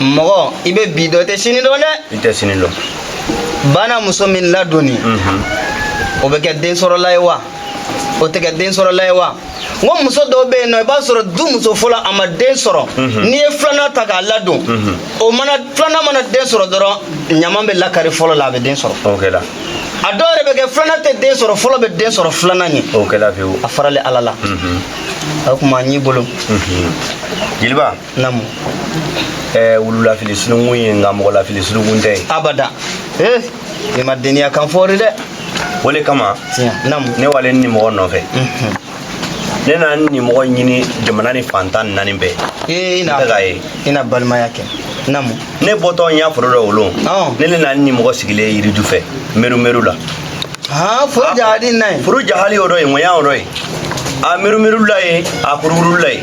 mɔgɔ i bɛ bi dɔn i tɛ sini dɔn dɛ i tɛ sini dɔn bana muso min ladonni o bɛ kɛ den sɔrɔla ye wa o tɛ kɛ den sɔrɔla ye wa n ko muso dɔw bɛ yen nɔ i b'a sɔrɔ du muso fɔlɔ a ma den sɔrɔ n'i ye filanan ta k'a ladon o mana filanan mana den sɔrɔ dɔrɔn ɲama bɛ lakari fɔlɔ la a bɛ den sɔrɔ a dɔw yɛrɛ bɛ kɛ filanan tɛ den sɔrɔ fɔlɔ bɛ den sɔrɔ filanan ɲɛ a faralen ala la o kuma y'i bolo jeliba namu ɛɛ wululafili sununkun ye nka mɔgɔlafili sununkun tɛ ye abada ee i ma deniya kan fɔri dɛ o le kama namu ne walen nin mɔgɔ nɔfɛ ne nana ni mɔgɔ ɲini jamana ni fan tan naani bɛɛ ee ina ka ye ina balimaya kɛ namu ne bɔtɔ n y'a foro dɔ o lon ne ne nana ni mɔgɔ sigilen yiriju fɛ meru meru la aa foro jahali na ye foro jahali o dɔ ye ŋɔnya o dɔ ye a meru meru la ye a kurukuru la ye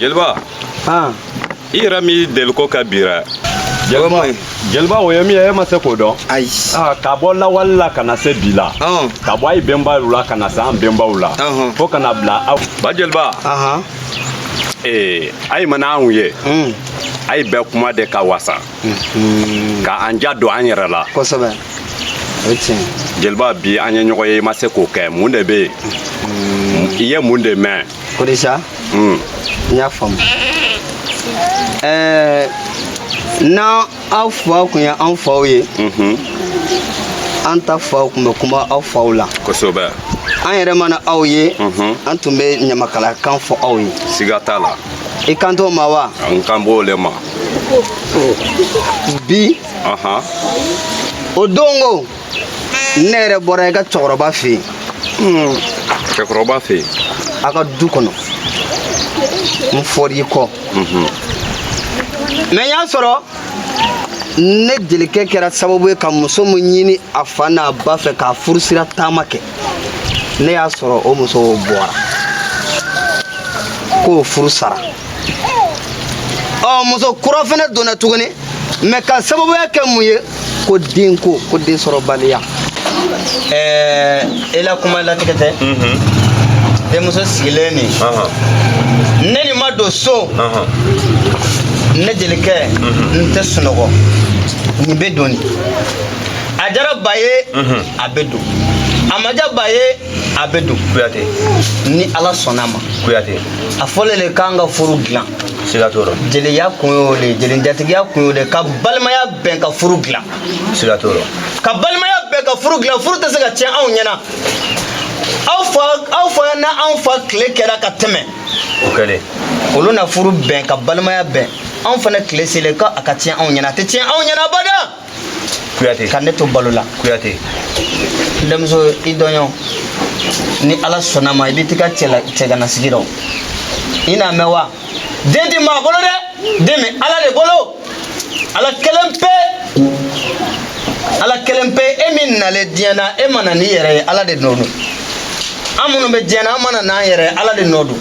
jeliba i yɛrɛ min deliko ka bira jeliba o ye min ye e ma se k'o dɔn ayi ka bɔ lawali la ka na se bi la ka bɔ a ye bɛnbaw la ka na se an bɛnbaw la fo ka na bila aw ba jeliba ee a ye mana anw ye a ye bɛ kuma de ka wasa ka an ja don an yɛrɛ la kosɛbɛ o ye tiɲɛ ye jeliba bi an ye ɲɔgɔn ye i ma se k'o kɛ mun de bɛ yen i ye mun de mɛn ko di sa Hmm. n y'a faamu ɛɛ n'an aw faw kun ye anw faw ye Mhm. an ta faw kun bɛ kuma aw faw la kosɛbɛ an yɛrɛ mana aw ye Mhm. an tun bɛ ɲamakalakan fɔ aw ye siga t'a la i kan t'o ma wa n kan b'o le ma bi o don ko ne yɛrɛ bɔra i ka cɛkɔrɔba fɛ yen hmm. cɛkɔrɔba fɛ yen a ka du kɔnɔ n fɔr'i kɔ mhm. mais n y'a sɔrɔ ne jelikɛ kɛra sababu ye ka muso min ɲini a fa n'a ba fɛ k'a furusira taama kɛ ne y'a sɔrɔ o muso bɔra k'o furu sara ɔ muso kura fana donna tuguni mais ka sababuya kɛ mun ye ko denko ko den sɔrɔbaliya ɛɛ e la kuma latigɛ tɛ denmuso sigilen nin ne nin ma don so ne jelikɛ n tɛ sunɔgɔ nin bɛ don nin a jara ba ye a bɛ don a ma ja ba ye a bɛ don kuyate ni ala sɔnna a ma kuyate a fɔlen de k'an ka furu dilan siga t'o rɔ jeliya kun y'o de ye jelinjatigiya kun y'o de ye ka balimaya bɛn ka furu dilan siga t'o rɔ ka balimaya bɛn ka furu dilan furu tɛ se ka tiɲɛ anw ɲɛna aw fa aw fa n'anw fa tile kɛra ka tɛmɛ o kɛlen olu na furu bɛn ka balimaya bɛn anw fana tile selen ko a ka tiɲɛ anw ɲɛna a tɛ tiɲɛ anw ɲɛna abada kuyate ka ne to balo la kuyate denmuso i dɔɲɔ ni ala sɔnna a ma i bɛ t'i ka cɛganasigi rɔ i n'a mɛn wa den tɛ maa bolo dɛ den bɛ ala de bolo ala kelen pe ala kelen pe e min nalen diɲɛ na e mana n'i yɛrɛ ye ala de nɔ don an minnu bɛ diɲɛ na an mana n'an yɛrɛ ye ala de nɔ don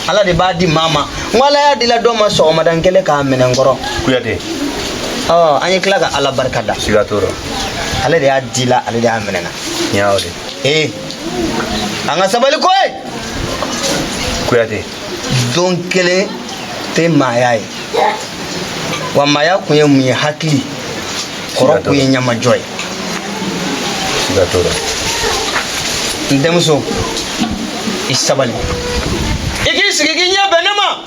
ala de b'a di maa ma n ko ala y'a di la dɔ ma sɔgɔmada kelen k'a minɛ n kɔrɔ kuyate ɔ an ye tila ka ala barika da siga t'o rɔ ale de y'a di la ale de y'a minɛ na n y'a o de ee an ka sabali ko ye kuyate don kelen tɛ maaya ye wa maaya kun ye mun ye hakili kɔrɔ kun ye ɲamajɔ ye siga t'o rɔ n denmuso i sabali i k'i sigi k'i ɲɛ bɛn ne ma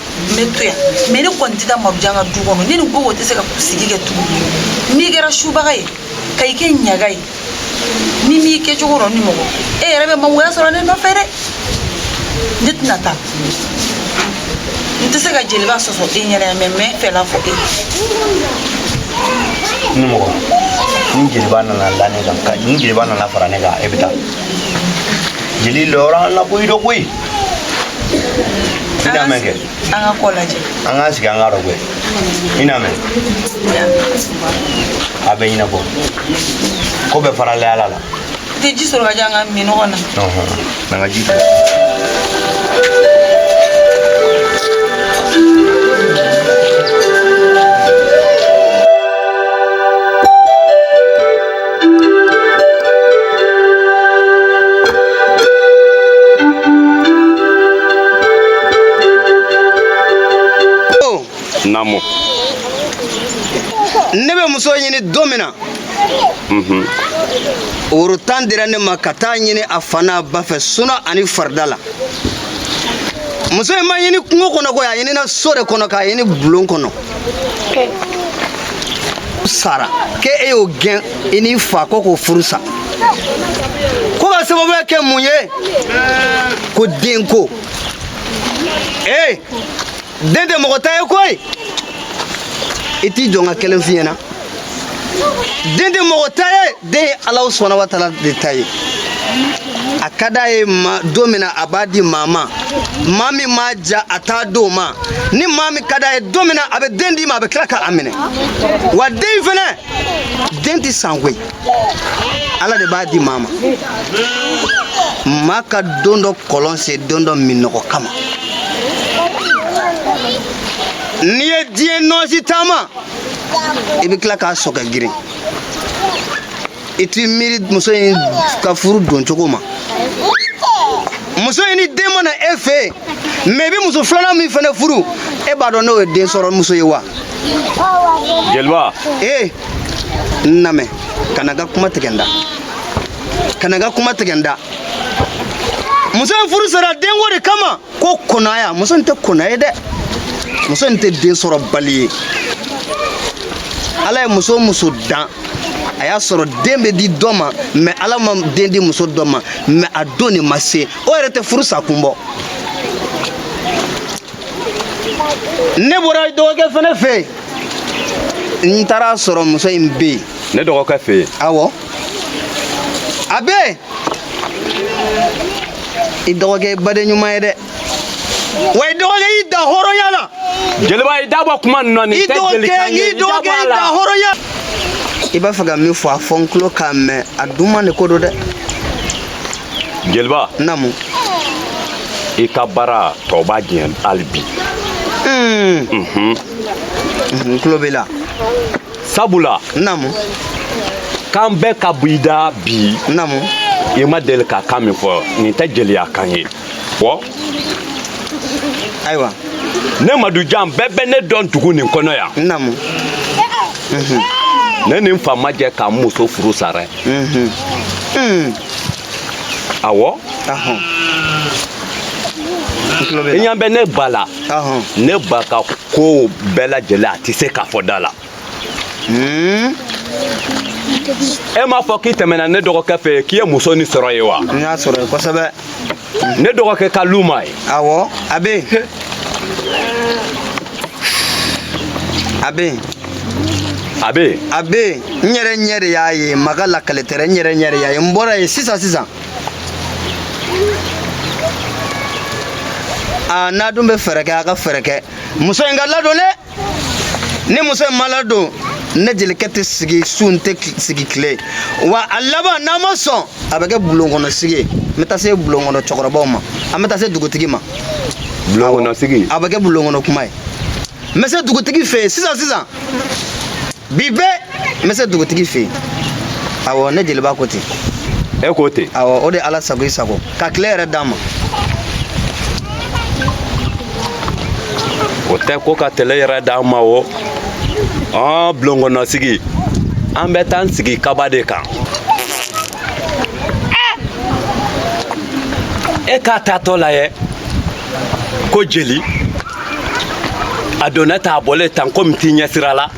n bɛ to yan mɛ ne kɔni tɛ taa madujan ka du kɔnɔ ne ni gogo tɛ se ka sigi kɛ tuguni n'i kɛra subaga ye ka i kɛ ɲaga ye ne m'i kɛcogo dɔn nimɔgɔ e yɛrɛ bɛ mangoya sɔrɔ ne nɔfɛ dɛ ne tɛna taa n tɛ se ka jeliba sɔsɔ e ɲɛna yan mɛ n bɛ n fɛla fɔ e nimɔgɔ ni jeliba nana da ne kan ni jeliba nana fara ne kan e bɛ taa jeli lɔrɔ an la koyi dɔ koyi An ka ko lajɛ an k'an sigi an k'a rɔgɛ i n'a mɛn a bɛ ɲɛnabɔ ko bɛɛ farala ala la tɛ ji sɔrɔ k'a di an k'a min ɲɔgɔn na an ka ji Namo. Ne bɛ muso ɲini don min na mhm. woro tan dira ne ma ka taa ɲini a fa n'a ba fɛ suna ani farida la muso in ma ɲini kungo kɔnɔ koyi a ɲinina so de kɔnɔ k'a ɲini bulon kɔnɔ sara ke e y'o gɛn i n'i fa ko k'o furu sa ko ka sababuya kɛ mun ye ko denko ee den tɛ mɔgɔ ta ye koyi i t'i jɔ n ka kelen f'i ɲɛna den tɛ mɔgɔ ta ye den ye ala subahana wa taala de ta ye a ka d'a ye don min na a b'a di maa ma maa min m'a diya a t'a d'o ma ni maa min ka d'a ye don min na a bɛ den d'i ma a bɛ tila k'a minɛ wa den fɛnɛ den tɛ san koyi ala de b'a di maa ma maa ka don dɔ kɔlɔn sen don dɔ minnɔgɔ kama n'i ye diɲɛ nɔɔsi taama i bɛ tila k'a sɔgɔ girin i t'i miiri muso in ka furu don cogo ma muso in ni den ma na e fɛ yen mɛ i bɛ muso filanan min fana furu e b'a dɔn n'o ye den sɔrɔ muso ye wa jeliba ee n lamɛn kana n ka kuma tigɛ n da kana n ka kuma tigɛ n da muso in furu sara denko de kama ko konaya muso in tɛ kona ye dɛ muso in tɛ den sɔrɔbali ye ala ye muso o muso dan a y'a sɔrɔ den bɛ di dɔ ma mɛ ala ma den di muso dɔ ma mɛ a don de ma se o yɛrɛ tɛ furu sa kun bɔ ne bɔra dɔgɔkɛ fana fɛ yen n taara sɔrɔ muso in bɛ yen ne dɔgɔkɛ fɛ yen awɔ a bɛ yen i dɔgɔkɛ ye baden ɲuman ye dɛ wa i dɔgɔkɛ y'i da hɔrɔnya la jeliba i da bɔ kuma ninnu na nin tɛ jelikan ye i dɔgɔkɛ y'i da hɔrɔnya i b'a fɛ ka min fɔ a fɔ n tulo k'a mɛn a duman de ko don dɛ jeliba namu i ka baara tɔ b'a diɲɛ hali bi n tulo b'i la sabula namu kan bɛɛ ka bɔ i da bi namu i ma deli ka kan min fɔ nin tɛ jeliya kan ye fɔ ayiwa ne madujan bɛɛ bɛ ne dɔn dugu nin kɔnɔ yan namu ne ni n fa ma jɛ ka n muso furu sa dɛ awɔ i ɲɛ bɛ ne ba la ne ba ka kow bɛɛ lajɛlen a tɛ se ka fɔ da la hmm? e m'a fɔ k'i tɛmɛna ne dɔgɔkɛ fɛ k'i ye muso nin sɔrɔ yen wa n y'a sɔrɔ yen kosɛbɛ ne dɔgɔkɛ ka lu ma yen awɔ a bɛ yen a bɛ yen a bɛ yen a bɛ yen n yɛrɛ ɲɛ de y'a ye maa ka lakali tɛ dɛ n yɛrɛ ɲɛ de y'a ye n bɔra yen sisan sisan aa n'a dun bɛ fɛɛrɛ kɛ a ka fɛɛrɛ kɛ muso in ka ladon dɛ ni muso in ma ladon ne jelikɛ tɛ sigi su n tɛ sigi tile wa a laban n'a ma sɔn a bɛ kɛ bulon kɔnɔ sigi ye n bɛ taa se bulon kɔnɔ cɛkɔrɔbaw ma an bɛ taa se dugutigi ma bulon kɔnɔ sigi a bɛ kɛ bulon kɔnɔ kuma ye n bɛ se dugutigi fɛ yen sisan sisan bi bɛɛ n bɛ se dugutigi fɛ yen awɔ ne jeliba ko ten e ko ten awɔ o de ye ala sago i sago ka tile hɛrɛ d'an ma o tɛ ko ka tele hɛrɛ d'an ma o ɔn bulon kɔnɔ sigi an bɛ taa n sigi kaba de kan e k'a taatɔ lajɛ ko jeli a donna tan a bɔlen tan ko min t'i ɲɛsira la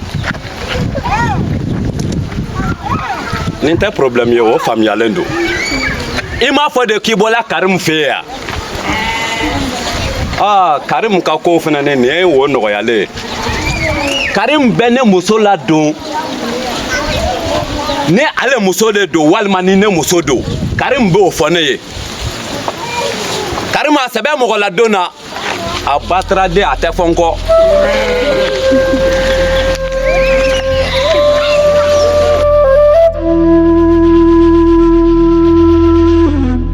nin tɛ problème ye o faamuyalen don i m'a fɔ de k'i bɔla karimu fɛ yen wa aa karimu ka kow fana ne nin ye o nɔgɔyalen ye karimu bɛ ne muso ladon ni ale muso de don walima ni ne muso don karimu b'o fɔ ne ye karimu a se bɛ mɔgɔ ladon na a bataraden a tɛ fɔ n kɔ